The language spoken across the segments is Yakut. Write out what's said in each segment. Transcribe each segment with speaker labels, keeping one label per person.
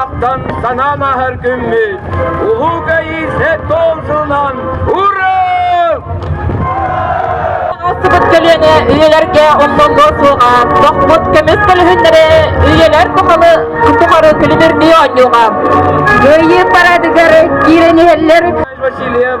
Speaker 1: Аптан санаам аһар күммүт Уһуга Исе должунан Ура! Аҕыстыбыт көлүөнэ үйэлэргэ омнолго суоҕа, тохмут көмүс көлүһүннэри үйэлэр тухалы тухары күлүмүрдүү оонньууга. Кыайыы парадыгар киирэн иһэллэр. Васильев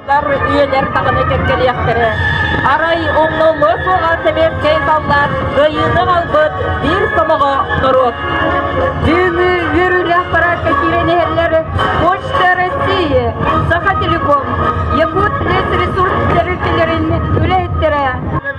Speaker 1: үйэлэр даҕаны кэккэлиэхтэрэ. Арай умнуллуо суоҕа сэбиэскэй саллаат кыайыыны ылбыт биир сомоҕо норуот. Бүгүҥҥү үөрүүлээх параадка киирэн иһэллэр Почта России, Саха Телеком, Якут лесресурс тэрилтэлэрин үлэһиттэрэ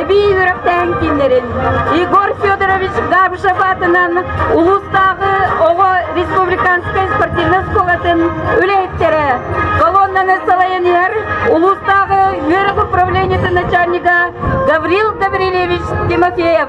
Speaker 1: эбии үөрэхтэһэн кииннэрин Егор Федорович Габышев аатынан улуустааҕы оҕо республиканскай спортивнай оскуолатын үлэһиттэрэ колоннаны салайан иһэр улуустааҕы үөрэх управлениетын начальнига Гаврил Гаврильевич Тимофеев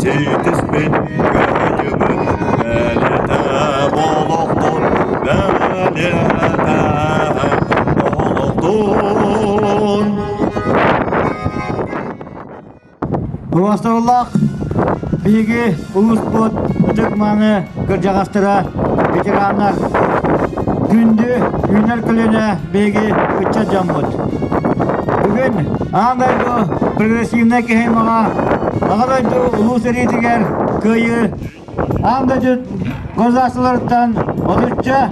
Speaker 1: Ситиспит кыайыбыт бэлэтэ олохтун бэлэтэ олохтун Толоостууллах биһиги улууспут ытык-мааны кырдьаҕастара, ветераннар күндү үүнэр көлүөнэ Биһиги ычча дьоммут. Бүгүн Аан дойду прогрессивнай кыһамаҕа Аҕа дойду Улуу сэриитигэр кыайыы Аан дойду государстволарыттан отучча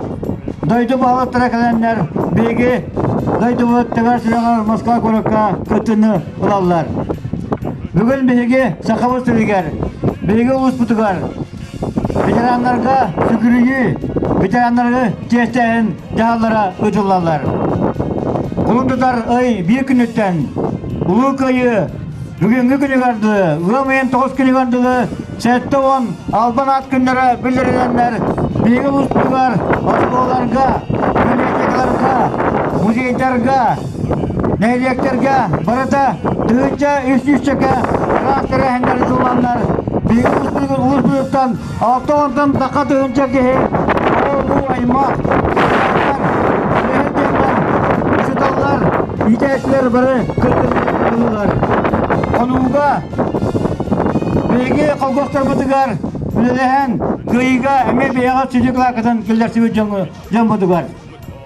Speaker 1: дойду баһылыктара кэлэннэр биһиги дойдубут тэбэр сүрэҕэр Москва куоракка кыттыыны ылаллар. Бүгүн биһиги Сахабыт сиригэр, биһиги улууспутугар Ветераннарга сүгүрүйүү ветераннары чиэстээһин дьаһаллара ыытыллаллар. Кулун тутар ый биир күнүттэн Улуу Кыайыы бүгүҥҥү күнүгэр дылы, ыам ыйын тоҕус күнүгэр дылы сэттэ уон албан аат күннэрэ биллэрилэннэр биһиги улууспутугар оскуолаларга, көлиэсэкэлэргэ, музейдарга, Нэһилиэктэргэ барыта тыһыынча үс сүүсчэкэ ыраах тэрээһиннэри ыланнар биһиги улууспутуттан алта уонтан такка тыһыынча киһи оҕо-уруу аймах ыраахтар үлэһит дьоннор учууталлар иитээччилэр бары кыттыыларын ыллылар хонууга биһиги холбосторбутугар үлэлэһэн кыайыыга эмиэ бэйэҕит сүдү кылааккытын киллэрсибит дьоҥҥутугар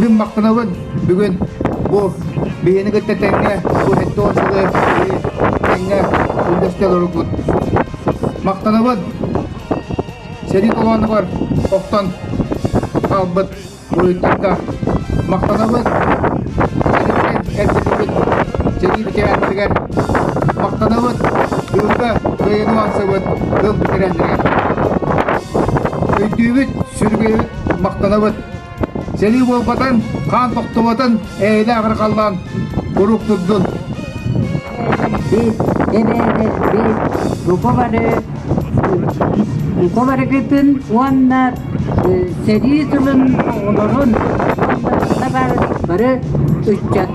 Speaker 1: Гыммаккынабын бүгүн бу биһини кытта тэҥҥэ бу сэттэ уон сылы биһи тэҥҥэ үллэстэ олороргут. Махтанабын! Сэрии толоонугар охтон хаалбыт буойуттарга махтанабын! Сириттэн эрдиллибит сэрии бэчээттэригэр махтанабын! Бүгүҥҥэ кыайыны умансыбыт тыл тирэллэригэр! Өйдүүбүт, сүргэйбит махтанабыт. Сэлии буолбатын, хаан тохтубатын эйэлээх эрэ халлаан урук турдун. Утумарыгытын уонна сэрии сылын олорун бары ыччат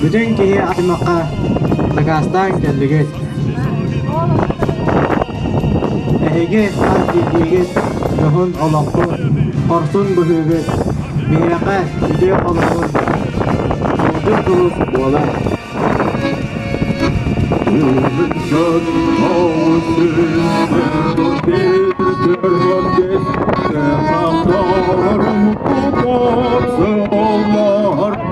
Speaker 1: Бүтүн киһи аймахха дакаастаан кэллигит. Эһиги хас биирдиигит дьоһун олохпут, хорсун быһыыгыт, биһиэхэ үтүө холобур, улдьун курус буолар. Өлсен оусысын битэрбэт сахарым тутар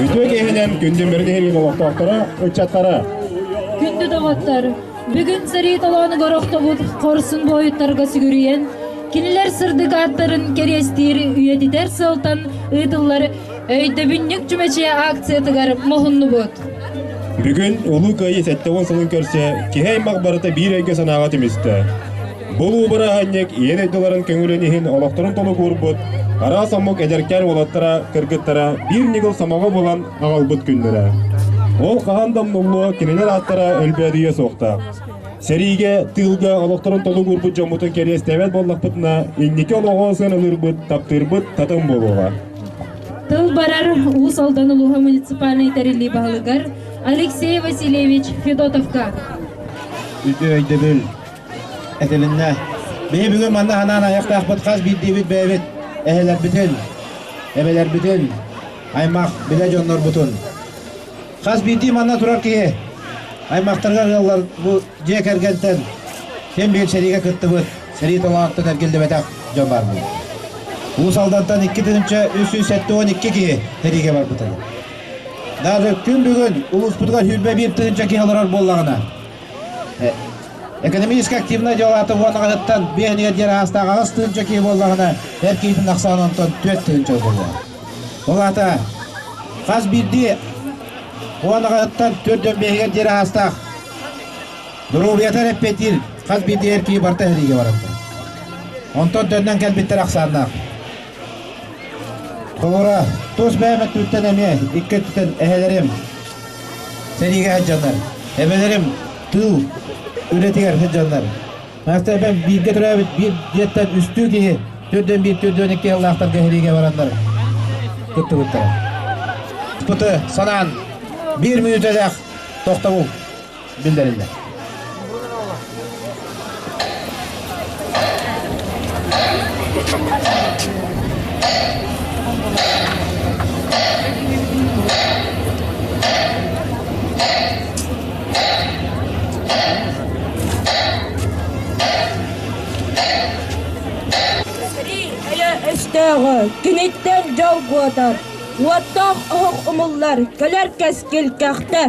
Speaker 1: Үтүө киһинем күндүн бэрдиһин олохтоохторо, ыччаттара. Күндү доҕоттор, бүгүн сэрии толоону горохтобут хорсун буойуттарга сүгүрүйэн, кинилэр сырдык ааттарын кэриэстиир үйэтитэр сыалтан ыытыллар Өйдөбүнньүк чүмэчийэ акциятыгар муһуннубут. Бүгүн Улуу Кыайыы сэттэ уон сылын көрсө киһи аймах барыта биир өйгө-санааҕа түмүстэ. Бу улуу бырааһынньык ийэ дойдуларын көҥүлүн иһин олохторун толук уурбут араас омук эдэркээн уолаттара кыргыттара биир ньыгыл сомоҕо булан аҕалбыт күннэрэ. Ол хаһан да умнуллуо кинилэр ааттара өлбөөдүйүө суохтаах. Сэриигэ, тыылга олохторун толук уурбут дьоммутун кэриэстэбэт буоллахпытына, инники олоҕу сыаналыырбыт, таптыырбыт татым буолуоҕа. Тыл барар Уус Алдан улууһа муниципальнай тэриллии баһылыгар Алексей Васильевич Федотовка. Үтүө өйдөбүл этилиннэ. Биһи бүгүн манна санаан айахтаахпыт хас биирдиибит бэйэбит эһэлэрбитин, эбэлэрбитин, аймах, билэ дьоннорбутун Хас биирдии манна турар киһи аймахтарга ыаллар бу дьиэ кэргэнтэн син биир сэриигэ кыттыбыт, сэрии талаантан эргиллибэтэх дьон баар буолар. Уус Алдантан икки тыһыынча үс сүүс сэттэ уон икки киһи сэриигэ барбыт этэ. Даже күн бүгүн улууспутугар сүүрбэ биир тыһыынча киһи олорор буоллаҕына, экономически активнай дьалаата уон аҕатыттан биэһ диэр аастаах аҕыс тыһыынча киһи буоллаҕына, эр киһитин ахсаан онтон түөрт тыһыынча буоллаҕа. Ол аата хас биирдии уон аҕатыттан түөрт дьон миэһигэр диэри аһаастаах доруобуйата эрэппиэтиир хас биирдии эр киһи барыта сэриигэ барабыта. Онтон дьоннон кэлбиттэр ахсааннаах. Толора тус бэйэм өттүттэн эмиэ икки өттүттэн эһэлэрим сэриигэ сылдьаннар, эбэлэрим тыыл үлэтигэр сылдьаннар Настя эбэм бииргэ төрөөбүт биир дьиэттэн үстүү киһи, төрт уон биир, төрт уон икки ыаллаахтарга сэриигэ бараннар кыттыбыттара. Аспыты санаан биир мүнүүтэлээх тохтобул биллэриллэр. өстөөҕү киниттэн дьолгуотар уоттоох оһох умуллар кэлэр кэскил кэхтэ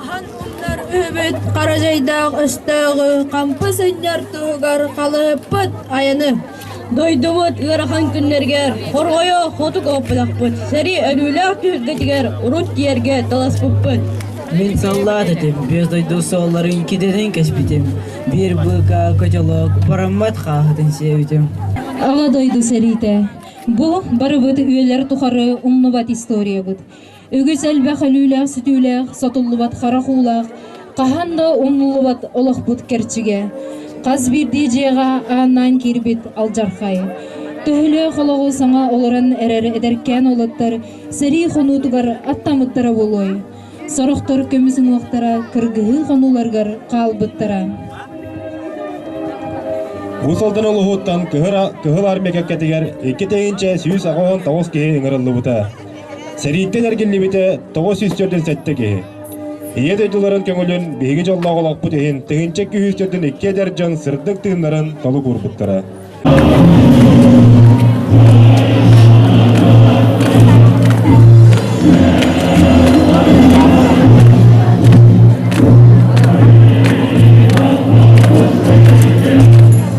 Speaker 1: аһан умнар үһүбүт хара дьайдаах өстөөҕү хампы сынньар туһугар халыһыппыт айаны Дойдубут ыарахан күннэригэр хорҕойо хоту көһүппэтэхпит, сэрии өлүүлээх түһүлгэтигэр урут тиэргэ таласпыппыт. Мин саллаат этим, биэс дойду суолларын китэтин кэспитим, биир быыкка котелок параммат хааһытын сиэбитим. Аҕа дойду сэриитэ. Бу барыбыт үөлэр тухары умнубат историябыт. үгүс элбэх өлүүлээх-сүтүүлээх, сотуллубат харах уулаах, хаһан да умнуллубат олохпут кэрчигэ. Хас биирдии дьиэҕэ ааннаан киирбит алдьархай. Төһөлөөх олоҕу саҥа олорон эрэр эдэркээн уолаттар сэрии хонуутугар аттаммыттара буолуой? Сорохтор көмүс уҥуохтара кыргыһыы хонууларыгар хаалбыттара. Уус Алдан улууһуттан Кыһыл Армия кэккэтигэр икки тыһыынча сүүс аҕыс киһи ыҥырыллыбыта. Сэрииттэн эргиллибитэ тоҕус сүүс төрдүн сэттэ киһи. Ийэ дойдуларын көҥүлүн биһиги дьоллоох олохпут иһин тыһыынча күүс төрдүн икки эдэр дьон сырдык тыыннарын толук уурбуттара.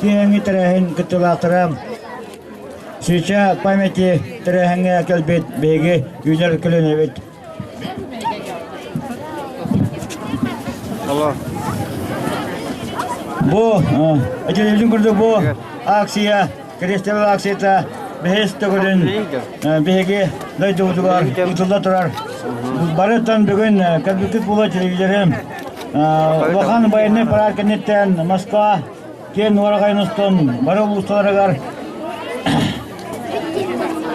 Speaker 1: киэҥи тэрээһин кыттыылаахтара Сыча памяти тэрээһиҥҥэ кэлбит биһиги үүнэр көлөнөбүт. Бу этилебитин курдук бу акция, крестовый акцията бэһис төгүлүн биһиги дойдубутугар ыытылла турар. Барыттан бүгүн кэлбиккит була телевизорым улахан байыннай парад кэнниттэн Москва диэн ураҕайын устун бары улуустарыгар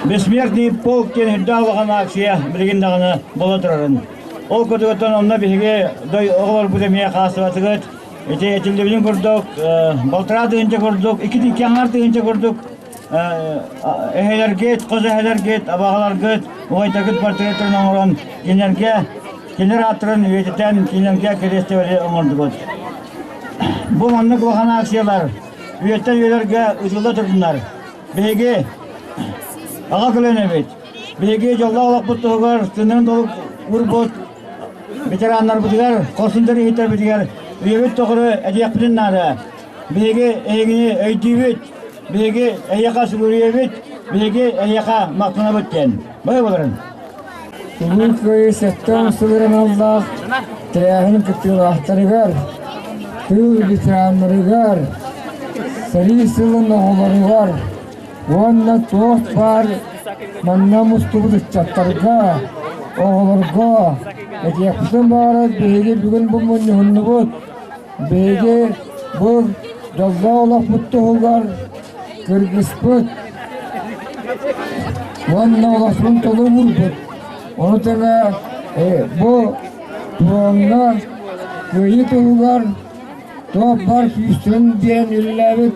Speaker 1: «Бессмертный полк» диэн үрдээх улахан ааксыйа билигин даҕаны буола турарын. Ол курдугуттан онно биһиги дой оҕолорбут эмиэ хаалсыбатыгыт. Ити этиллибитин курдук, балтараа тыһыынча курдук, икки тыыкки аҥаар тыһыынча курдук эһэлэргит, хос эһэлэргит, абаҕаларгыт убайтагыт портретын оҥорон кинилэргэ кинилэр ааттарын үйэтитэн кинилэргэ кэриэстибэли оҥордубут. Бу маннык улахан акциялар үйэттэн үйэлэргэ удьулла туруннар. Биһиги аҕа кылын эбит. Биһиги дьоллоох олохпут туһугар тынын долук урбут ветераннарбытыгар, хорсундар иһиттербитигэр үйэбит тухары эдиэхпитин наада. Биһиги эйигини өйдүүбүт, биһиги эйиэхэ сүгүрүйэбит, биһиги эйиэхэ махтанабыт диэн. Бай былырын. Улуу Кыайыы сэттэ сувереналлаах тэрээһин кыттыылаахтарыгар, тыыл ветераннарыгар, сэрии сылын оҕолоругар уонна туох баар манна мустубут ыччаттарга, оҕолорго этиэхпитин баҕарар биһиги бүгүн бу мунньуһуннубут Биһиги бу дьоллоох олохпут туһугар кыргыспыт уонна олохпун толу уурбут. Ону тэҥэ бу туоҥҥа кыайыы туһугар Туоппар күүстүн диэн үлэлээбит